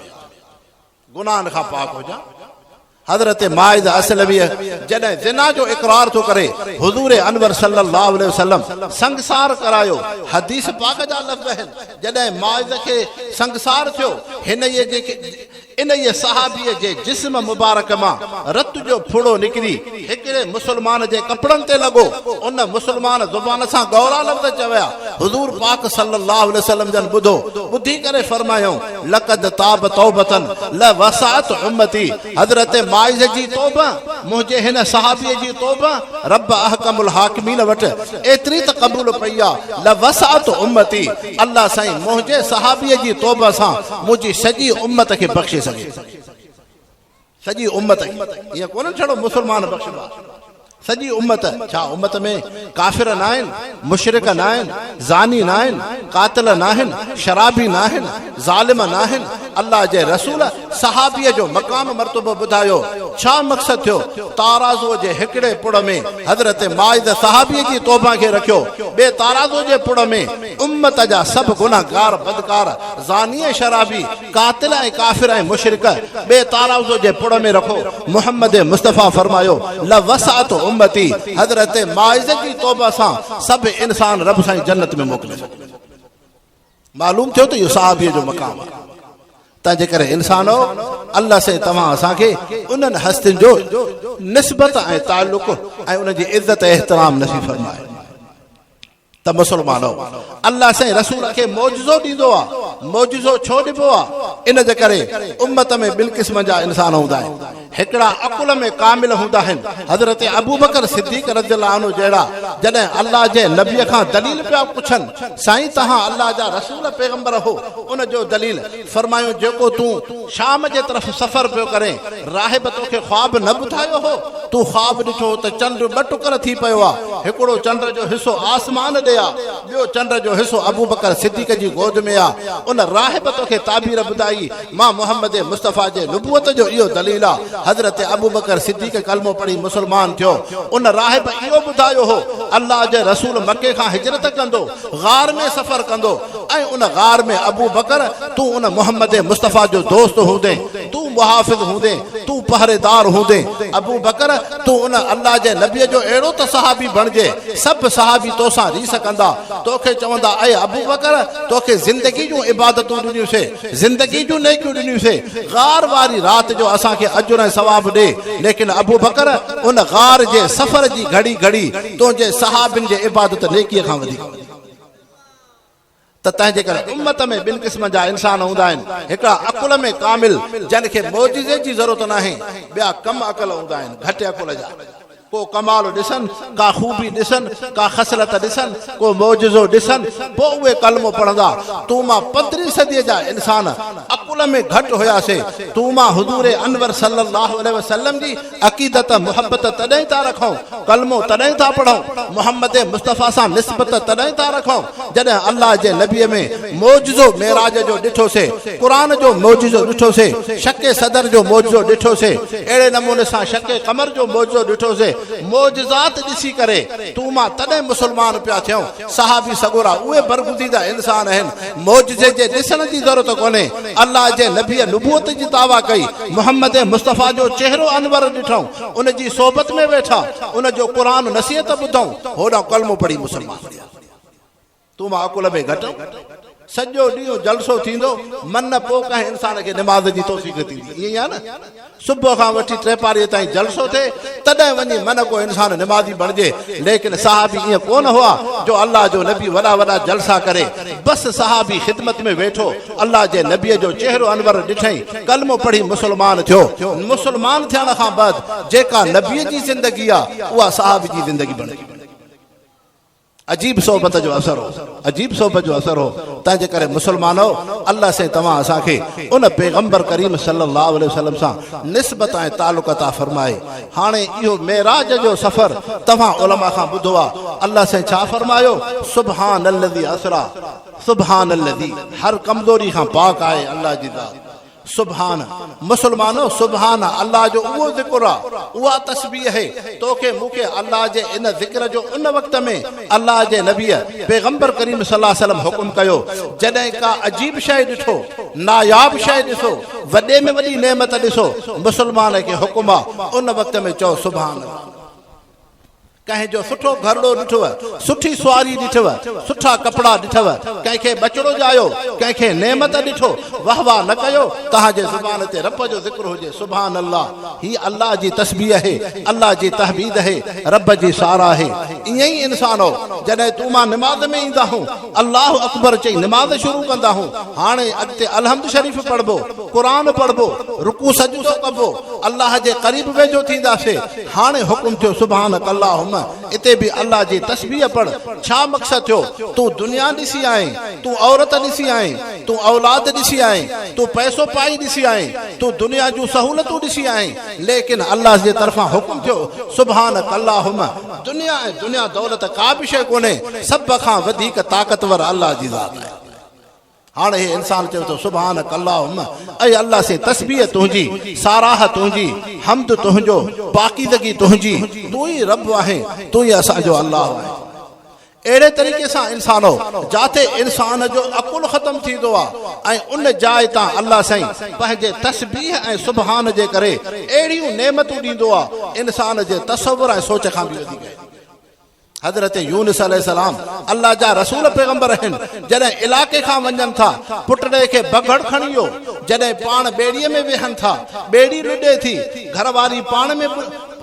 گناهن کان پاڪ هجان. حضرت ماعز اسلميء جڏهن زنا جو اقرار ٿو ڪري، حضور انور صلي الله عليه وسلم سنگسار ڪرايو. حديث پاڪ جا لفظ آهن، جڏهن ماعز کي سنگسار ٿيو، هنئي جي انهيء صحابيء جي جسم مبارڪ مان رت جو ڦڙو نڪري هڪڙي مسلمان جي ڪپڙن تي لڳو. ان مسلمان زبان سان ڳورا لفظ چويا. حضور پاڪ صلي الله عليه وسلم جن ٻڌو، ٻڌي ڪري فرمايائون، لقد تاب توبة لا وسعت امتي حضرت ماعز جي توبه منهنجي هن صحابي جي توبه رب احڪم الحاڪمين وٽ ايتري ته قبول پئي آ لا وسعت امتي الله سائين منهنجي صحابي جي توبه سان منهنجي سڄي امت کي بخشي سگهي سڄي امت کي ايئن ڪونه ڇڙو مسلمان بخشبو آهي سڄي امت ڇا امت ۾ ڪافر ناهن مشرڪ ناهن زاني ناهن قاتل ناهن شرابي ناهن ظالم ناهن الله جي رسول صحابي جو مقام مرتبو ٻڌايو ڇا مقصد ٿيو تارازو جي هڪڙي پڙ ۾ حضرت مائد صحابي جي توبه کي رکيو ٻي تارازو جي پڙ ۾ امت جا سڀ گنهگار بدڪار زاني شرابي قاتل ۽ ڪافر ۽ مشرڪ ٻئي تاراوزو جي پڙ ۾ رکو محمد مصطفيٰ فرمايو لوسعت امتي حضرت ماعز جي توبه سان سڀ انسان رب سائين جنت ۾ موڪلي سگهن ٿا معلوم ٿيو ته اهو صحابي جو مقام آهي تنهنجي ڪري انسانو الله سائين توهان اسان کي انهن هستين جو نسبت ۽ تعلق ۽ انهن جي عزت احترام نصيب فرمائي ته مسلمانؤ! الله سائين رسول کي معجزو ڏيندو آ، معجزو ڇو ڏبو آ؟ ان جي ڪري امت ۾ ٻن قسمن جا انسان هوندا آهن، هڪڙا عقل ۾ ڪامل هوندا آهن، حضرت ابوبڪر صديق رضي الله عنه جهڙا، جڏهن الله جي نبي کان دليل پيا پڇن، سائين توهان الله جا رسول پيغمبر هو، ان جو دليل فرمايو، جيڪو تون شام جي طرف سفر پيو ڪرين، راهب توکي خواب نه ٻڌايو هو؟ تون خواب ڏٺو هو ته چنڊ ٻه ٽڪر ٿي پيو آ، هڪڙو چنڊ جو حصو آسمان ڏي آ، ٻيو چنڊ جو حصو ابوبڪر صديق جي گود ۾ آ. ان راهب توکي تعبير ٻڌائي، مان محمد مصطفيٰ جي نبوت جو اهو دليل آ. حضرت ابوبڪر صديق ڪلمو پڙهي مسلمان ٿيو. ان راهب اهو ٻڌايو هو، الله جي رسول مڪي کان هجرت ڪندو. غار ۾ سفر ڪندو ۽ ان غار ۾ ابوبڪر تون ان محمد مصطفيٰ جو دوست هوندين، تون محافظ هوندين، تون پهريدار هوندين، ابوبڪر تون ان الله جي نبيء جو اهڙو ته صحابي بڻجي، سڀ صحابي تو سان ريس ڪندا، تو کي چوندا، اي ابوبڪر تو کي زندگي جون عبادتون ڏنيون سين، زندگي جون نيڪيون ڏنيون سين، غار واري رات جو اسان کي اجر ۽ ثواب ڏي، ليڪن ابوبڪر ان غار جي سفر جي گهڙي گهڙي تنهنجي صحابين جي عبادت نيڪيء کان وڌيڪ هوندي ته تنهنجي ڪري امت ۾ ٻن قسمن جا انسان هوندا آهن هڪڙا عقل ۾ ڪامل جن کي معجزي جي ضرورت ناهي ٻيا ڪم عقل هوندا آهن گهٽ عقل جا ڪو ڪمال ڏسن ڪا خوبي ڏسن ڪا خصلت ڏسن ڪو معجزو ڏسن پوء اهي ڪلمو پڙهندا تون مان پندرهين صديء جا انسان عقل ۾ گهٽ هياسي تون مان حضور انور صلي الله عليه وسلم جي عقيدت محبت تڏهن ٿا رکون، ڪلمو تڏهن ٿا پڙهون، محمد مصطفيٰ سان نسبت تڏهن ٿا رکون جڏهن الله جي نبيء ۾ معجزو معراج جو ڏٺوسي، قرآن جو معجزو ڏٺوسي، شق صدر جو معجزو ڏٺوسي، اهڙي نموني سان شق قمر جو معجزو ڏٺوسي، معجزات ڏسي ڪري تون مان تڏهن مسلمان پيا ٿيون، صحابي سڳورا اهي برگزيده انسان آهن، معجزي جي ڏسڻ جي ضرورت ڪونهي، الله جي نبيء نبوت جي دعويٰ ڪئي، محمد مصطفيٰ جو چهرو انور ڏٺائون، ان جي صحبت ۾ ويٺا، ان جو قرآن نصيحت ٻڌائون، هوڏانهن ڪلمو پڙهي مسلمان ٿيا. تون معقول ۾ گهٽ. سڄو ڏينهن جلسو ٿيندو، من نه پوء ڪنهن انسان کي نماز جي توفيق ٿيندي. ائين ئي آهي نه؟ صبح کان وٺي ٽي پاريء تائين جلسو ٿئي، تڏهن وڃي من ڪو انسان نمازي بڻجي. ليڪن صحابي ائين ڪونه هئا، جو الله جو نبي وڏا وڏا جلسا ڪري. بس صحابي خدمت ۾ ويٺو، الله جي نبيء جو چهرو انور ڏٺئين، ڪلمو پڙهي مسلمان ٿيو. مسلمان ٿيڻ کان بعد جيڪا نبيء جي زندگي آهي، اها صحابي جي زندگي بڻجي. عجيب صحبت جو اثر هو عجيب صحبت جو اثر هو تنهن جي ڪري مسلمانو الله سائين توهان اسان کي ان پيغمبر ڪريم صلي الله عليه وسلم سان نسبت ۽ تعلق عطا فرمائي هاڻي اهو معراج جو سفر توهان علماء کان ٻڌو آ الله سائين ڇا فرمايو سبحان الذي اسرا سبحان الذي هر ڪمزوري کان پاڪ آهي الله جي ذات سبحان، مسلمانو! سبحان الله جو اهو ذڪر آ، اها تسبيح اهي، تو کي مون کي الله جي ان ذڪر جو ان وقت ۾ الله جي نبيء، پيغمبر ڪريم صلي الله عليه وسلم حڪم ڪيو، جڏهن ڪا عجيب شيء ڏٺو، ناياب شيء ڏسو، وڏي ۾ وڏي نعمت ڏسو، مسلمان کي حڪم آ، ان وقت ۾ چئو سبحان الله. ڪنهن جو سٺو گهرڙو ڏٺوء، سٺي سواري ڏٺوء، سٺا ڪپڙا ڏٺوء، ڪنهن کي ٻچڙو ڄايو، ڪنهن کي نعمت ڏٺو، واهه واهه نه ڪيو، توهان جي زبان تي رب جو ذڪر هجي، سبحان الله، هي الله جي تسبيح اهي، الله جي تحبيد اهي، رب جي ساراهه اهي. ايئن ئي انسانؤ! جڏهن تون مان نماز ۾ ايندا هون، الله اڪبر چئي نماز شروع ڪندا هو هاڻي اڳتي الحمد شريف پڙهبو قرآن پڙهبو رڪوع سجدو ڪبو الله جي قريب ويجهو ٿينداسي هاڻي حڪم ٿيو سبحانک اللهم اتي به الله جي تسبيح پڙهه ڇا مقصد ٿيو تون دنيا ڏسي آئين تون عورت ڏسي آئين تون اولاد ڏسي آئين تون پئسو پائي ڏسي آئين تون دنيا جون سهولتون ڏسي آئين ليڪن الله جي طرفان حڪم ٿيو سبحانک اللهم دنيا ۽ دنيا دولت ڪا به شيء ڪونهي، سڀ کان وڌيڪ طاقتور الله جي ذات آهي. هاڻ هي انسان چوي ٿو، سبحانک اللهم، اي الله سين تسبيح تنهنجي، ساراهه تنهنجي، حمد تنهنجو، پاڪيزگي تنهنجي، تون ئي رب آهين، تون ئي اسان جو الله آهين. اهڙي طريقي سان انسانو جاتي انسان جو عقل ختم ٿيندو آ ۽ ان جاء تان الله سائين پنهنجي تسبيح ۽ سبحان جي ڪري اهڙيون نعمتون ڏيندو آ انسان جي تصور ۽ سوچ کان به وڌيڪ آهن. حضرت يونس عليه السلام الله جا رسول پيغمبر اهن جڏهن علائقي کان وڃن ٿا پٽڙي کي بگهڙ کڻي ويو جڏهن پاڻ ٻيڙي ۾ ويهن ٿا ٻيڙي لڏي ٿي گهر واري پاڻ ۾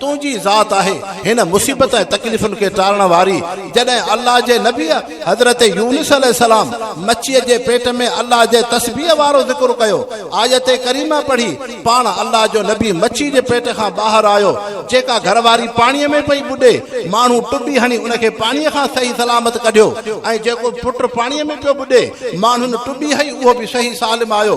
تنهنجي ذات آهي هن مصيبت ۽ تڪليفن کي ٽارڻ واري جڏهن الله جي نبيء حضرت يونس عليه السلام مڇيء جي پيٽ ۾ الله جي تسبيح وارو ذڪر ڪيو آيت ڪريمه پڙهي پاڻ الله جو نبي مڇي جي پيٽ کان ٻاهر آيو جيڪا گهر واري پاڻيء ۾ پئي ٻڏي ماڻهو ٽٻي هڻي ان کي پاڻيء کان صحيح سلامت ڪڍيو ۽ جيڪو پٽ پاڻيء ۾ پيو ٻڏي ماڻهن ٽٻي هئي اهو به صحيح سالم آيو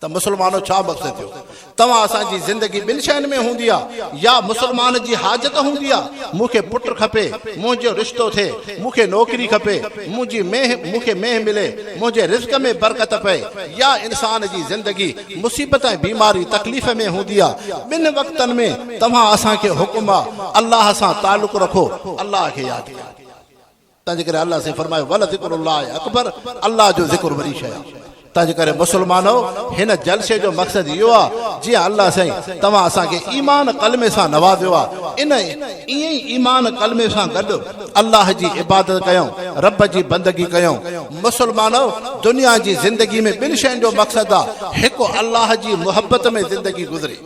ته مسلمانو ڇا مقصد ٿيو توهان اسان جي زندگي ٻن شين ۾ هوندي آ يا مسلمان جي حاجت هوندي آ مون کي پٽ کپي منهنجو رشتو ٿئي مون کي نوڪري کپي منهنجي مينهن مون کي مينهن ملي منهنجي رزق ۾ برڪت پئي يا انسان جي زندگي مصيبت ۽ بيماري تڪليف ۾ هوندي آ ٻن وقتن ۾ توهان اسان کي حڪم آ الله سان تعلق رکو الله کي ياد ڪيو تنهنجي ڪري الله سائين فرمايو ولذڪر الله اڪبر الله جو ذڪر وڏي شيء آهي تنهنجي ڪري مسلمانو هن جلسي جو مقصد اهو آهي جيئن الله سائين توهان اسان کي ايمان قلمي سان نوازيو آهي ان ائين ئي ايمان قلمي سان گڏ الله جي عبادت ڪيون رب جي بندگي ڪيون مسلمانو دنيا جي زندگي ۾ ٻن شين جو مقصد آهي هڪ الله جي محبت ۾ زندگي گذري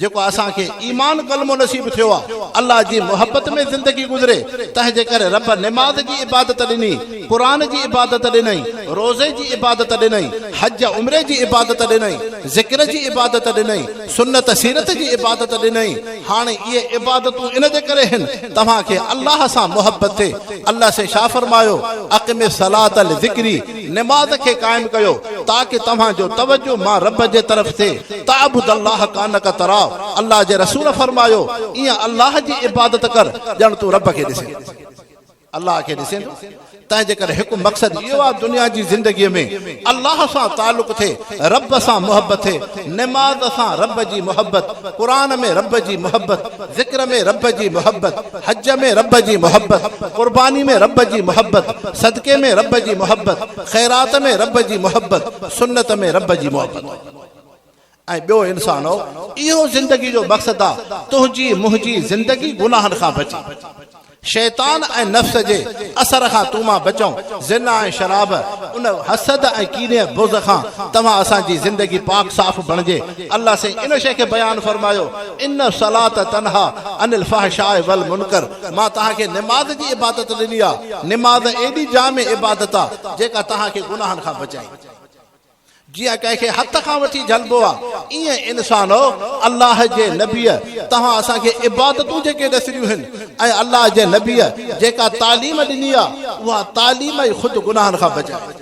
جيڪو اسان کي ايمان ڪلمو نصيب ٿيو آ الله جي محبت ۾ زندگي گذري تنهن جي ڪري رب نماز جي عبادت ڏني قرآن جي عبادت ڏنئي روزي جي عبادت ڏنئي حج عمري جي عبادت ڏنئي ذڪر جي عبادت ڏنئي سنت سيرت جي عبادت ڏنئي هاڻي اهي عبادتون ان جي ڪري هن توهان کي الله سان محبت ٿي الله سي شاهه فرمايو اقم الصلاة لذڪري نماز کي قائم ڪيو تاڪه توهان جو توجه مان رب جي طرف ٿئي تعبد الله کانڪ تراه الله جي رسول فرمايو ايئن الله جي عبادت ڪر ڄڻ تون رب کي ڏسين ٿو الله کي ڏسين ٿو تنهنجي ڪري هڪ مقصد اهو آهي دنيا جي زندگي ۾ الله سان تعلق ٿئي رب سان محبت ٿئي نماز سان رب جي محبت قرآن ۾ رب جي محبت ذڪر ۾ رب جي محبت، حج ۾ رب جي محبت، قرباني ۾ رب جي محبت، صدقي ۾ رب جي محبت، خيرات ۾ رب جي محبت، سنت ۾ رب جي محبت. ۽ ٻيو انسانؤ! اهو زندگي جو مقصد آ، تنهنجي منهنجي زندگي گناهن کان بچي. شيطان ۽ نفس جي اثر کان تون مان بچئون، زنا ۽ شراب، ان حسد ۽ ڪيني ۽ بغض کان توهان اسان جي زندگي پاڪ صاف بڻجي الله سائين ان شيء کي بيان فرمايو ان الصلاة تنهيٰ عن الفحشاء والمنڪر مان توهان کي نماز جي عبادت ڏني آهي نماز ايڏي جامع عبادت آهي جيڪا توهان کي گناهن کان بچائي جيئن ڪنهن کي هٿ کان وٺي جهلبو آهي، ايئن انسانؤ! الله جي نبيء توهان اسان کي عبادتون جيڪي ڏسريون هن ۽ الله جي نبيء جيڪا تعليم ڏني آهي، اها تعليم ئي خود گناهن کان بچائي ٿي.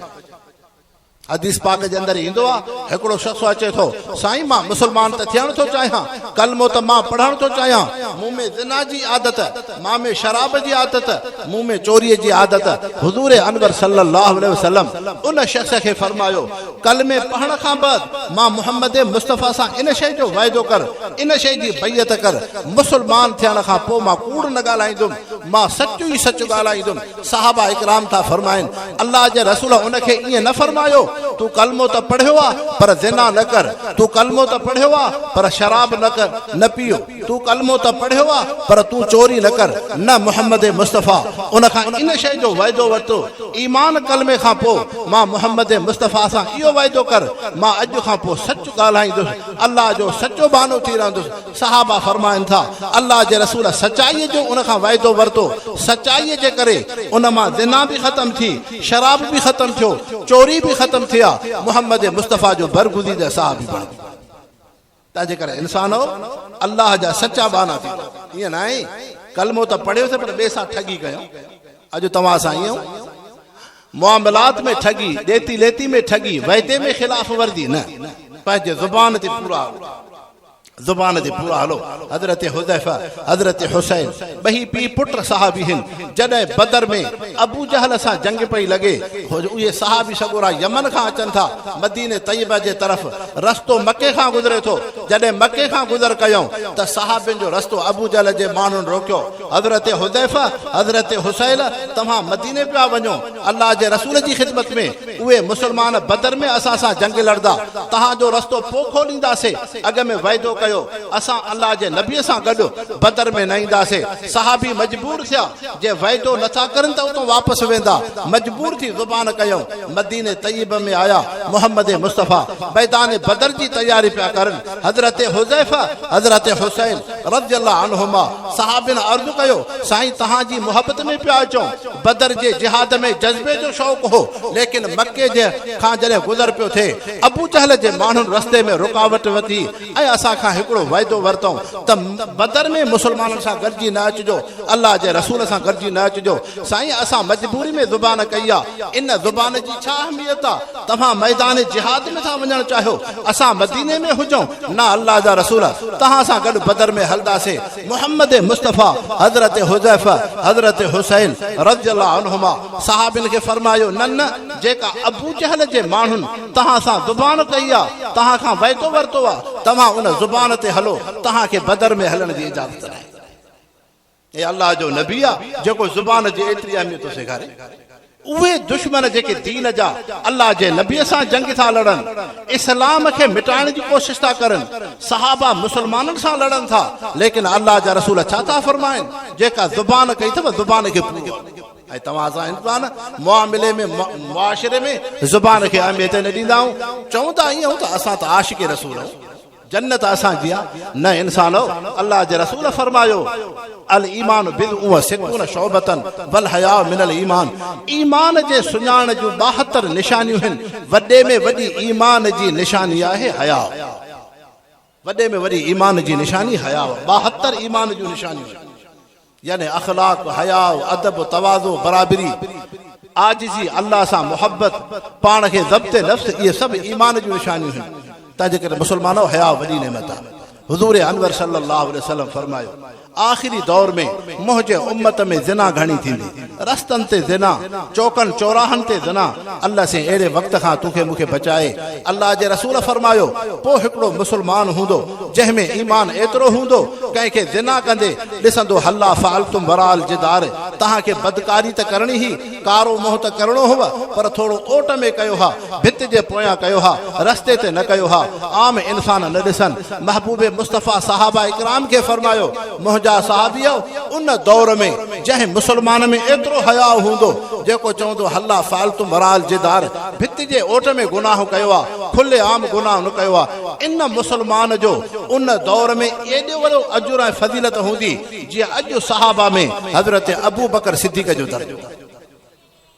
حديث پاڪ جي اندر ايندو آهي، هڪڙو شخص اچي ٿو، سائين مان مسلمان ته ٿيڻ ٿو چاهيان، ڪلمو ته مان پڙهڻ ٿو چاهيان، مون ۾ زنا جي عادت. مان ۾ شراب جي عادت، مون ۾ چوريء جي عادت، حضور انور صلّي اللّٰه عليه وسلّم ان شخص کي فرمايو، ڪلمي پڙهڻ کان بعد مان محمّد مصطفٰي سان ان شيء جو وعدو ڪر، ان شيء جي بيعت ڪر، مسلمان ٿيڻ کان پوء مان ڪوڙ نه ڳالهائيندم، مان سچ ئي سچ ڳالهائيندم، صحابه اڪرام ٿا فرمائن، الله جي رسول ان کي ائين نه فرمايو، تون ڪلمو ته پڙهيو آهي پر زنا نه ڪر، تون ڪلمو ته پڙهيو آهي پر شراب نه ڪر، نه پيء. تون ڪلمو ته پڙهيو آ پر تون چوري نه ڪر نه محمد مصطفيٰ ان کان ان شيء جو وعدو ورتو ايمان ڪلمي کان پوء مان محمد مصطفيٰ سان اهو وعدو ڪر مان اڄ کان پوء سچ ڳالهائيندس الله جو سچو ٻانهو ٿي رهندس صحابه فرمائن ٿا الله جي رسول سچائي جو ان کان وعدو ورتو سچائي جي ڪري ان مان زنا به ختم ٿي شراب به ختم ٿيو چوري به ختم ٿي آ محمد مصطفيٰ جو برگزيده صحابي بڻجي تنهن جي ڪري انسان او الله جا سچا ٻانها ٿيندا. ائين ناهي ڪلمو ته پڙهيوسين پر ٻئي سان ٺڳي ڪيائون. اڄ توهان سان ائين ائون معاملات ۾ ٺڳي، ڏيتي ليتي ۾ ٺڳي، وعدي ۾ خلاف ورزي نه. پنهنجي زبان تي پورا هلو. زبان تي پورا هلو. حضرت حذيفه، حضرت حسين. ٻئي پيء پٽ صحابي هن. جڏهن بدر ۾ ابو جهل سان جنگ پئي لڳي، اهي صحابي سڳورا يمن کان اچن ٿا، مدينه طيبه جي طرف، رستو مڪي کان گذري ٿو، جڏهن مڪي کان گذر ڪيائون ته صحابين جو رستو ابو جهل جي ماڻهن روڪيو، حضرت حذيفه، حضرت حسيل توهان مديني پيا وڃو، الله جي رسول جي خدمت ۾، اهي مسلمان بدر ۾ اسان سان جنگ لڙدا، توهان جو رستو پوء کولينداسين، اڳ ۾ وعدو ڪيو، اسان الله جي نبيء سان گڏ بدر ۾ نه اينداسين، صحابي مجبور ٿيا، جي وعدو نه ٿا ڪرن ته اتان واپس ويندا، مجبور ٿي زبان ڪيائون، مديني طيبه ۾ آيا، محمد مصطفيٰ ميدان بدر جي تياري پيا ڪرن، حضرت حذيفه، حضرت حسين رضي الله عنهما صحابين عرض ڪيو، سائين توهان جي محبت ۾ پيا اچون. بدر جي جهاد ۾ جذبي جو شوق هو، ليڪن مڪي جي کان جڏهن گذر پيو ٿئي، ابو جهل جي ماڻهن رستي ۾ رڪاوٽ وڌي ۽ اسان کان هڪڙو وعدو ورتائون ته بدر ۾ مسلمانن سان گڏجي نه اچجو، الله جي رسول سان گڏجي نه اچجو، سائين اسان مجبوري ۾ زبان ڪئي آ، ان زبان جي ڇا اهميت آ، توهان ميدان جهاد ۾ ٿا وڃڻ چاهيو، اسان مديني ۾ هجون، نه الله جا رسول توهان سان گڏ بدر ۾ هلنداسين، محمد مصطفيٰ حضرت حذيفه حضرت حسين رضي الله عنهما صحابين کي فرمايو نه نه جيڪا ابوجهل جي ماڻهن توهان سان زبان ڪئي آ توهان کان وعدو ورتو آ توهان ان زبان تي هلو توهان کي بدر ۾ هلڻ جي اجازت ناهي اي الله جو نبي آ جيڪو زبان جي ايتري اهميت ٿو سيکاري اهي دشمن جيڪي دين جا الله جي نبي سان جنگ ٿا لڙن، اسلام کي مٽائڻ جي ڪوشش ٿا ڪرن، صحابه مسلمانن سان لڙن ٿا، ليڪن الله جا رسول ڇا ٿا فرمائن، جيڪا زبان ڪئي اٿم زبان کي پورو آهي ۽ توهان اسان انسان معاملي ۾ معاشري ۾ زبان کي اهميت نه ڏيندا آهيون، چون ٿا ائين ته اسان ته عاشق رسول آهيون. جنت اسان جي آ نه انسانؤ الله جي رسول فرمايو الايمان بضع و ستون شعبة والحياء من الايمان ايمان جي سڃاڻ جون ٻاهتر نشانيون هن وڏي ۾ وڏي ايمان جي نشاني آهي حياء وڏي ۾ وڏي ايمان جي نشاني حياء ٻاهتر ايمان جون نشانيون هن. يعني اخلاق، حياء، ادب، تواضع، برابري، عاجزي، الله سان محبت، پاڻ کي ضبط نفس اهي سڀ ايمان جون نشانيون آهن، تنهنجي ڪري مسلمانؤ حياء وڏي نعمت آهي. حضور انور صلي الله عليه وسلم فرمايو، آخري دور ۾ منهنجي امت ۾ زنا گهڻي ٿيندي. رستن تي زنا، چوڪن چوراهن تي زنا، الله سين اهڙي وقت کان توکي مون کي بچائي، الله جي رسول فرمايو، پوء هڪڙو مسلمان هوندو جنهن ۾ ايمان ايترو هوندو ڪنهن کي زنا ڪندي ڏسندو هلا فعلتم وراء الجدار توهان کي بدڪاري ته ڪرڻي هئي، ڪارو منهن ته ڪرڻو هئو پر ٿورو اوٽ ۾ ڪيو ها، ڀت جي پويان ڪيو ها، رستي تي نه ڪيو ها، عام انسان نه ڏسن، محبوب مصطفيٰ صحابه اڪرام کي فرمايو، منهنجا صحابيؤ! ان دور ۾ جنهن مسلمان ۾ ايترو حياء هوندو، جيڪو چوندو هلا فعلت مرال جدار، ڀت جي اوٽ ۾ گناهه ڪيو آ، کلي عام گناهه نه ڪيو آ، ان مسلمان جو ان دور ۾ ايڏو وڏو اجر ۽ فضيلت هوندي، جيئن اڄ صحابه ۾ حضرت ابوبڪر صديق جو درجو.